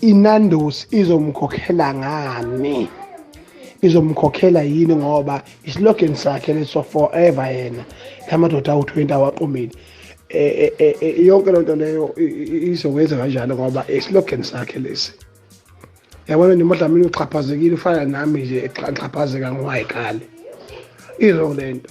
inandos izomkhokhela ngani izomkhokhela yini ngoba islogan sakhe leso forever yena lamadoda awu-20 awaqomile eh, eh, eh, yonke loo nto leyo izokwenza kanjalo ngoba islogan sakhe lesi yabona nje umadlamini uxhaphazekile ufana nami nje ngixhaphazeka ngowayiqale izo le nto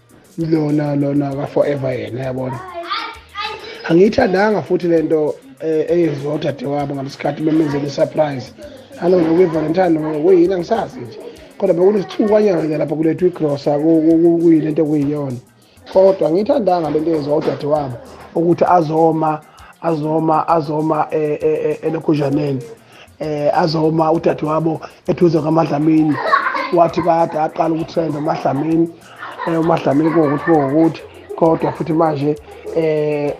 lona lona ka forever yena yabona angiyithandanga futhi lento eh, eyenziwa udadewabo ngalesikhathi bemenzela isurprise alona kwi-valentine kuyini angisazi nje kodwa bekunesithukanyana ke lapha kulethu igrosa kuyini into okuyiyona kodwa ngiyithandanga lento eyenziwa udadewabo ukuthi azoma azoma azoma eh, eh, elokhuzhaneni eh azoma udadewabo eduze kwamadlamini wathi kade aqala ukutrenda umadlamini eh umadlamini kokuthi kokuthi kodwa futhi manje eh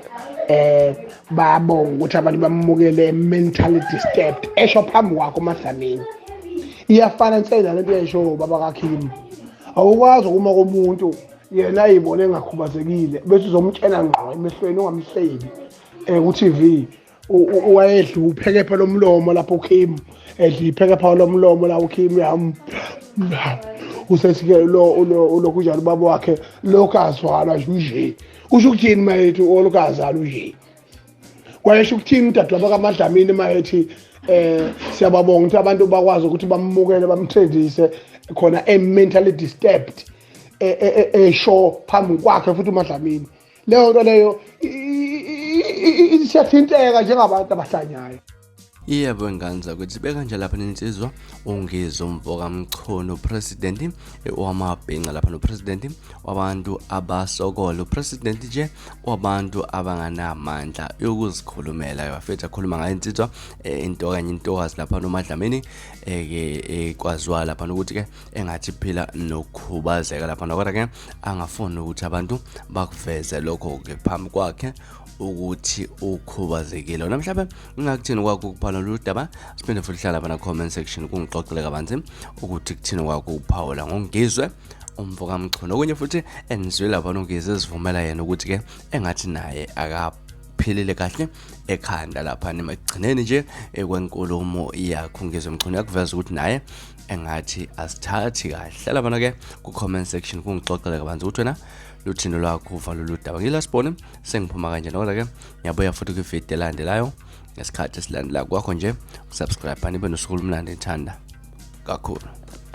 eh babonga ukuthi abantu bamukele mentally disturbed esho phambi kwakho umadlamini iyafana nsela lento yesho baba kaKhim awukwazi ukuma komuntu yena ayibone engakhubazekile bese uzomtshela ngqo emehlweni ungamhlebi eh ku-TV wayedla uphekepha lomlomo lapho uKim edla iphekepha lomlomo la uKim yam usesike lo ulokhu njalo ubaba wakhe lokhu azwala nje usho ukuthini mayethi olokhu azala nje kwayesho ukuthini udadewabo kamadlamini mayethi eh siyababonga ukuthi abantu bakwazi ukuthi bamukele bamthengise khona e mentally disturbed esho e, e, e, phambi kwakhe futhi umadlamini leyo nto leyo siyathinteka njengabantu abahlanyayo iyebo ingane zakwethu sibe kanje lapha nensizwa ungizo mvoka mchunu upresidenti wamabhinca lapha nopresidenti wabantu abasokola upresidenti nje wabantu abanganamandla yokuzikhulumela yafethu akhuluma ngayo insizwa eh, into kanye intokazi lapha nomadlamini eh, ke ekwaziwa eh, lapha nokuthi ke engathi phila nokukhubazeka lapha kodwa ke angafuni ukuthi abantu bakuveze lokho ke phambi kwakhe ukuthi ukhubazekile wena mhlawumbe ingakuthini kwakho ukuphala lolu daba siphinde futhi hlala phana comment section kungixoxele kabanzi ukuthi kuthini kwakho ukuphawula ngongizwe umfo kamchunu okunye futhi endizwe lapha nongizwe ezivumela yena ukuthi ke engathi naye akapha uphilile kahle ekhanda lapha nemagcineni nje ekwenkulumo yakho ngizwe mchunu yakuveza ukuthi naye engathi asithathi kahle labana ke ku comment section kungixoxele kabanzi ukuthi wena luthini lwakho uva lolu daba ngilasiboni sengiphuma kanje nokola ke ngiyabuya futhi kwivideo elandelayo ngesikhathi esilandela kwakho nje usubscribe nibe nosuku olumnandi ngithanda kakhulu